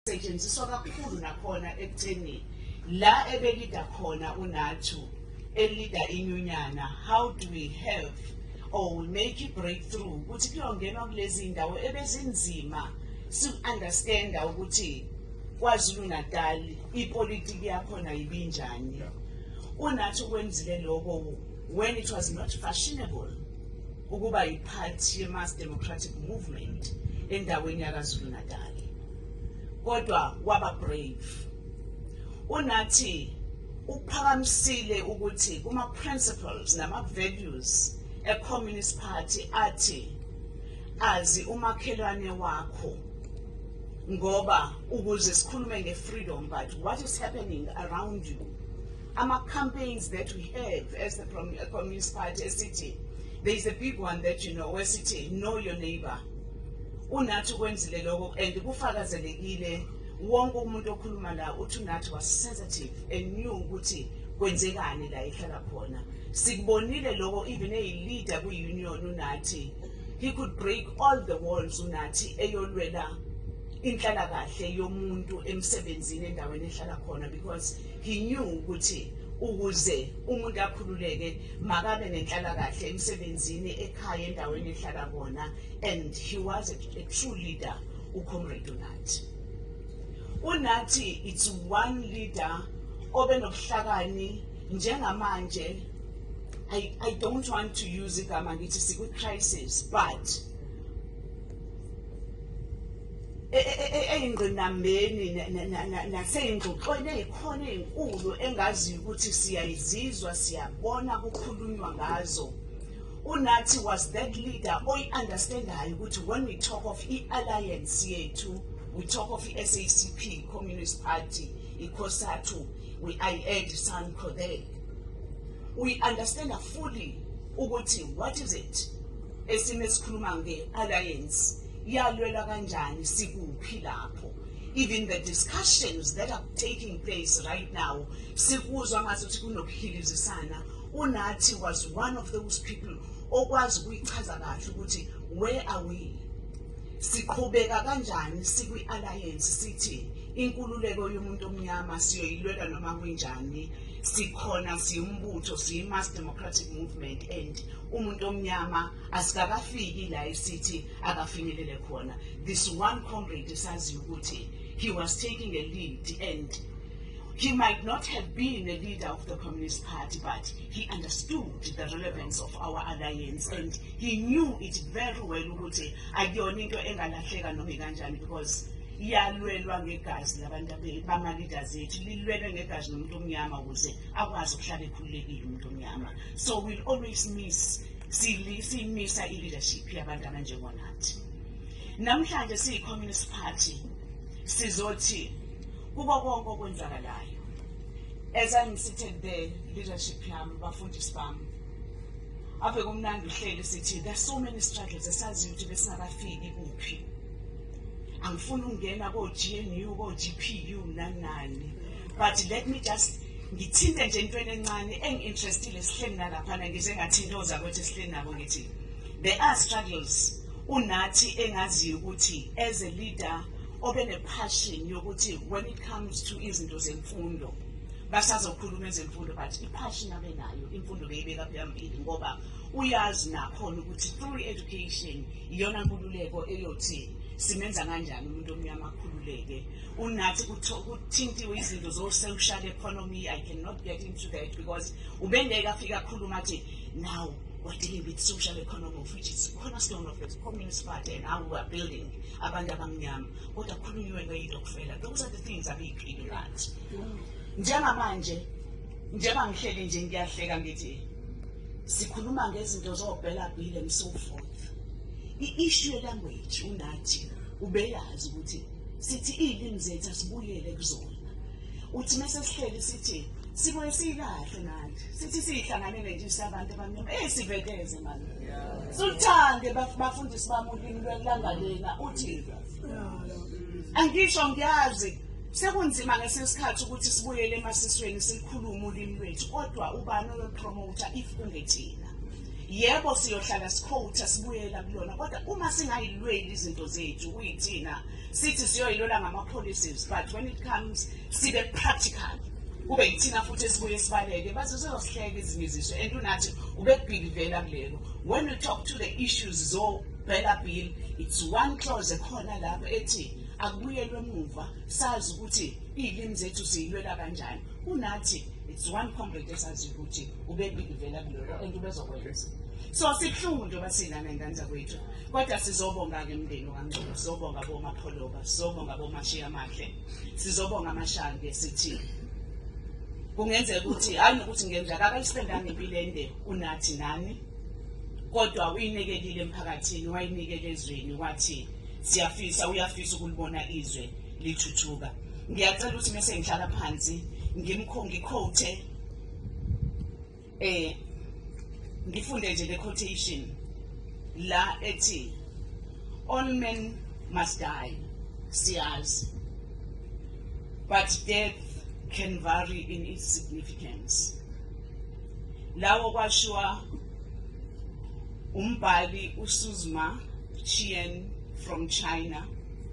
setshenziswa kakhulu nakhona ekutheni la ebelida khona unathu elida inyunyana how do we have or we make a breakthrough ukuthi kuyongenwa kulezi ndawo ebezinzima si-understanda ukuthi kwazulu natal ipolitiki yakhona ibinjani unathi ukwenzile lokho when it was not fashionable ukuba yiphathi ye-mass democratic movement endaweni yakazulu natali kodwa waba brave unathi uphakamisile ukuthi kuma-principles nama-values e-communist party athi azi umakhelwane wakho ngoba ukuze sikhulume nge-freedom but what is happening around you Ama campaigns that we have as the Communist Party esithi there is a big one that you know wesithi know your neighbor. Unathi kwenzile lokho and kufakazelekile wonke umuntu okhuluma la uthi unathi was sensitive and knew ukuthi kwenzekani la ihlala khona sikubonile lokho even eyileader kwi-union unathi he could break all the walls unathi eyolwela inhlalakahle yomuntu emsebenzini endaweni ehlala khona because He knew ukuthi ukuze umuntu akhululeke makabe nenhlalakahle emsebenzini ekhaya endaweni ehlala kona and he was a, a true leader ucomrade unathi unathi it's one leader obenobuhlakani njengamanje I, I don't want to use igama ngithi sikwi-crisis but e, e, e, eyingqinambeni naseyingxoxweni eyikhona eyinkulu engaziyo ukuthi siyayizizwa siyabona kukhulunywa ngazo unathi was that leader oyi-understandayo ukuthi when we talk of i-alliance yethu we talk of i-sacp communist party ikhosathu we i add sanco there we understand fully ukuthi what is it esime sikhuluma nge-alliance iyalwelwa kanjani sikuphi lapho even the discussions that are taking place right now sikuzwa ngathi ukuthi kunokuhilizisana unathi was one of those people okwazi ukuyichaza kahle ukuthi where are we siqhubeka kanjani sikwi-alliance sithi inkululeko yomuntu omnyama siyoyilwela noma kunjani sikhona siwumbutho siyi-mass democratic movement and umuntu omnyama asikakafiki la esithi akafinyelele khona this one comrade saziyo ukuthi he was taking a lead and he might not have been a leader of the Communist Party, but he understood the relevance of our alliance and he knew it very well ukuthi akuyona into engalahleka noma kanjani because iyalwelwa ngegazi labantu bama-leaders ethu lilwelwe ngegazi nomuntu omnyama ukuze akwazi ukuhlala ekhululekile umuntu omnyama so we'll always miss siyimisa i-leadership yabantu abanjengonathi namhlanje siyi-communist party sizothi kuko konke okwenzakalayo as i'm sitting there leadership yami bafundisi bami ave kumnandi uhleli sithi there's so many struggles esaziyo ukuthi besingakafiki kuphi angifuni ukungena ko-gnu ko-gpu nanani but let me just ngithinte nje intweni encane engi-interestile sihleli nalaphana ngize ngathinta ozakwethu esihleli nabo ngithi there are struggles unathi engaziyo ukuthi as a leader obe ne-passion yokuthi when it comes to izinto zemfundo basazokhuluma ezemfundo but i-passion abe nayo imfundo beyibeka phambili ngoba uyazi nakhona ukuthi through education iyona nkululeko eyothi simenza kanjani umuntu omnyama akhululeke unathi kuthintiwe izinto zo-social economy i cannot get into that because ubengeke afike akhuluma athi now we're dealing with social economy which is cornerstone of the communist party and how we're building abantu abamnyama kodwa kukhulunyiwe ngeyitokufela those are the things abeyiphile ngathi njengamanje njengoba ngihleli nje ngiyahleka ngithi sikhuluma ngezinto zobhela bhile and so forth i-issue yelanguage unathi ubeyazi ukuthi sithi iy'limi zethu asibuyele kuzona uthi uma sesihleli sithi sibuye siyikahle manje sithi siyihlanganele nje sabantu abamnyama eyi siveteze mani suluthande bafundisi bami ulimi lwelanga lena uthi angisho ngiyazi sekunzima ngesinye isikhathi ukuthi sibuyele emasisweni sikhulume ulimi lwethu kodwa ubani oyopromotha if kungethina yebo siyohlala sikhotha sibuyela kulona kodwa uma singayilweli izinto zethu kuyithina sithi siyoyilola ngama-policies but when it comes sibe practical kube yithina futhi esibuye sibaleke baze uzosihleka ezinye iziso and unathi ubekubhikivela kulelo when we talk to the issues zobhela bill it's one clause ekhona lapho ethi akubuyelwe emuva sazi ukuthi iy'limi zethu siyilwela kanjani kunathi it's one comrade esazi ukuthi ubebikivela kuloko and ubezokwenza so sibuhlungu njengoba sinana ingane zakwethu kodwa sizobonga-ke mndeni wangcono sizobonga bomapholoba sizobonga bomashiya amahle sizobonga amashange sithi kungenzeka ukuthi hayi nokuthi ngenza kakayisipendanga impilo ende unathi nani kodwa uyinikelile emphakathini wayinikela ezweni wathi siyafisa uyafisa ukulibona izwe lithuthuka ngiyacela ukuthi mese ngihlala phansi ngimkho ngikhothe eh ngifunde nje le quotation la ethi all men must die siyazi but death can vary in its significance lawo kwashiwa umbhali usuzma chien from china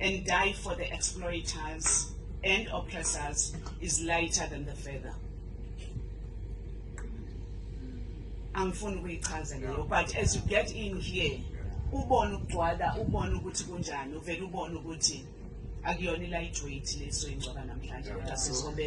and die for the exploiters and oppressors is lighter than the feather. angifuni ukuyichaza leyo but as you get in here ubone ukugcwala ubone ukuthi kunjani uvele ubone ukuthi akuyona i-lightweight leso ingcwaba namhlanje kodwa sizobe